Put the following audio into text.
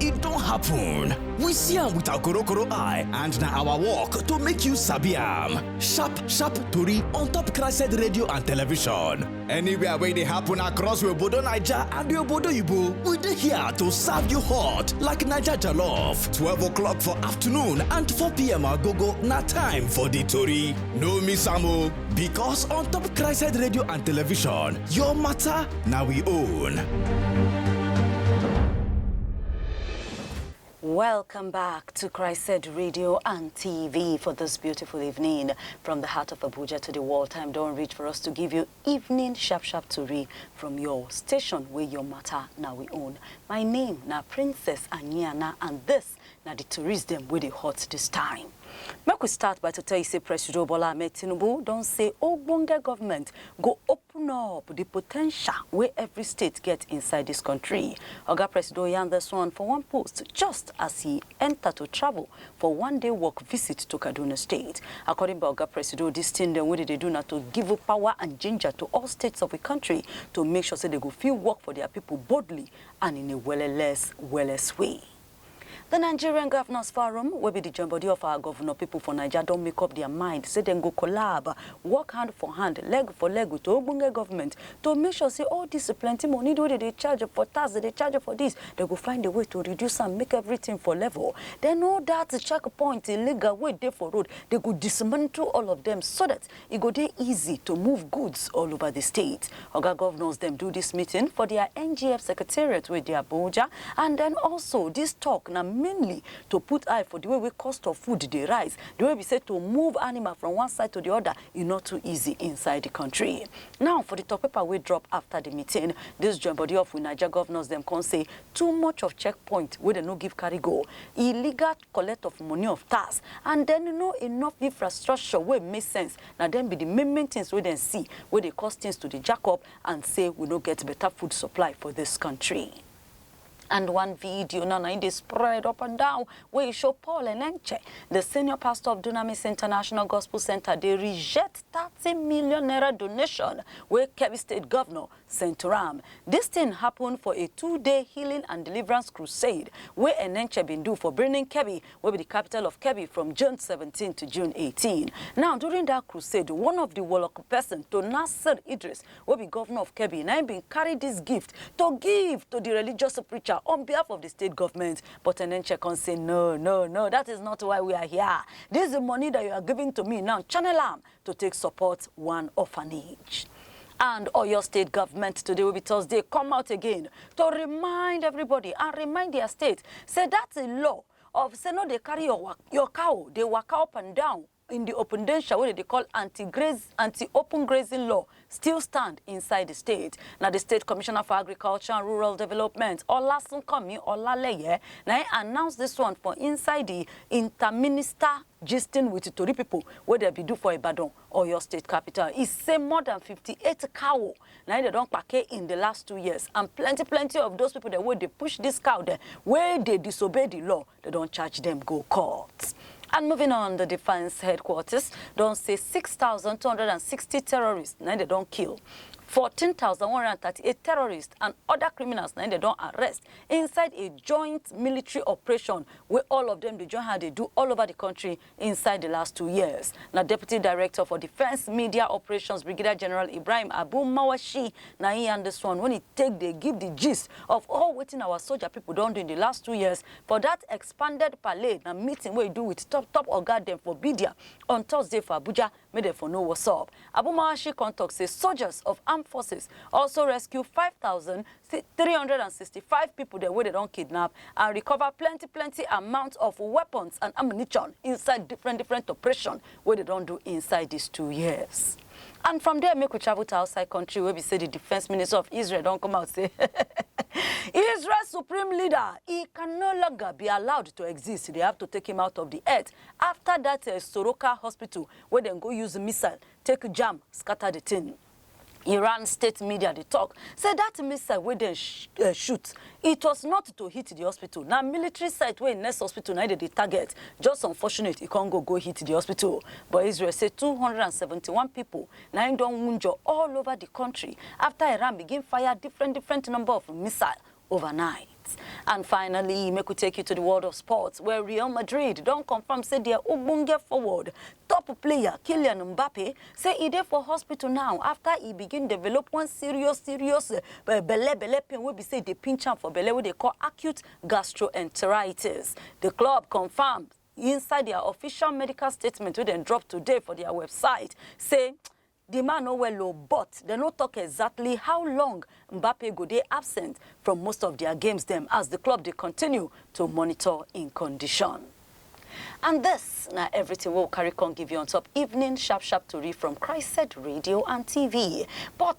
e don happen. We see am with our korokoro eye and na our work to make you sabi am. Sharp sharp tori on top Crested Radio and Television. Anywhere wey dey happen across we obodo Naija and we obodo Igbo, we dey here to serve you hot like Naija jollof. 12 o'clock for afternoon and 4 p.m. agogo na time for the tori. No miss am o. Because on top Christ Radio and Television, your matter now we own. Welcome back to Christ Radio and TV for this beautiful evening. From the heart of Abuja to the wall, time don't reach for us to give you evening sharp sharp to read from your station where your matter now we own. My name now Princess Anyana and this na di tourist dem wey dey hot dis time. Make we start by to tell you say Presido Bola Ahmed Tinubu don say ogbonge government go open up di potential wey every state get inside dis kontri. Oga Presido yarn dis one for one post just as e enta to travel for one day work visit to Kaduna State. According by Oga Presido, dis tin dem wey dem dey do na to give power and ginger to all states of we kontri to make sure say dem go fit work for dia pipo boldly and in a welleless welless way. The Nigerian Governors Forum, wey be the joinbody of our governor people for Naija, don make up their mind say dem go collab, work hand for hand, leg for leg with ogbonge government to make sure say all this plenty money wey dem dey charge for tax, dem dey charge for this, dem go find a way to reduce am, make everything for level. Then all that checkpoint illegal wey dey for road, dem go dismantle all of them so that e go dey easy to move goods all over di state. Oga govnors dem do dis meeting for dia NGF secretariat wey dey Abuja and den also dis tok na mainly to put eye for di way wey cost of food dey rise, di way be say to move animal from one side to di oda e no too easy inside di kontri. Now for di tok paper wey drop afta di meeting, dis join bodi of we Naija govnors dem kon say too much of checkpoint wey dem no give carry go, illegal. collect of money of tax and then no enough infrastructure wey make sense na dem be the main main things wey dem see wey dey cause things to dey jack up and say we no get better food supply for this country. And one video now na im dey spread up and down wey e show Paul Enenche, the senior pastor of Dunamis International Gospel Centre dey reject thirty million naira donation wey Kebbi State governor Centuram. Dis thing happen for a two-day healing and deliverance crusade wey Enenche bin do for Birnin Kebbi, wey be di capital of Kebbi, from June seventeen to June eighteen. Now, during dat crusade, one of di Woloku person to Nasir Idris, wey be governor of Kebbi, na im bin carry dis gift to give to di religious preacher on behalf of di state government, but Enenche come say, No, no, no, dat is not why we are here. Dis money dat you are giving to me now, channel am to take support one orphanage. And Oyo State government today will be Thursday come out again to remind everybody and remind their state say that's a law of say no dey carry your, wa- your cow dey waka up and down in the open danger wey dem dey call anti-graze anti-open grazing law still stand inside di state. Na di state commissioner for agriculture and rural development, Olasunkanmi Olaleye, na im announce dis one for inside di interminister gisting with tori pipo wey dem bin do for Ibadan, Oyo state capital. E say more than fifty eight cow na im dem don kpake in di last two years and plenty plenty of those pipo dem wey dey push dis cow dem wey dey disobey di law They don charge dem go court. And moving on, the defense headquarters don say 6,260 terrorists na they don kill. 14,138 terrorists and other criminals na they don arrest inside a joint military operation where all of them dey join hand dey do all over the country Inside di last two years, na Deputy Director for Defence Media Operations Brigadier General Ibrahim Abu Mawashi na im yarn dis one when e take dey give di gist of all wetin our soldier pipo don do in di last two years for dat expanded parley na meeting wey e do wit top top oga dem for Bidia on Thursday for Abuja. make dem for know what's up. Abumawashi come talk say soldiers of armed forces also rescue 5,365 people dem wey dem don kidnap and recover plenty plenty amount of weapons and ammunition inside different different operation wey dem don do inside these two years. And from there, make we travel to outside country where we say the defense minister of Israel don't come out say Israel supreme leader, he can no longer be allowed to exist. They have to take him out of the earth. afta dat Soroka hospital wey dem go use missile take jam scata di tin. Iran state media dey tok say dat missile wey dem shoot, it was not to hit di hospital, na military site wey next hospital na im dem dey target, just unfortunate e come go go hit di hospital. But Israel say two hundred and seventy one pipo na im don wunjure all ova di kontri afta Iran begin fire different different number of missile overnight. And finally, make we take you to the world of sports, where Real Madrid don confirm say their ogbonge forward, top player Kylian Mbappe, say e dey for hospital now after e begin develop one serious serious uh, belle belle pain wey be say e dey pinch am for belle wey dey call acute gastroenteritis. The club confirm inside their official medical statement wey dem drop today for their website say Di man no well o but dem no tok exactly how long Mbappe go dey absent from most of dia games dem as di club dey continue to monitor im condition. And dis na everything wey we carry come give you on top evening sharp sharp tori from Christ Radio and TV but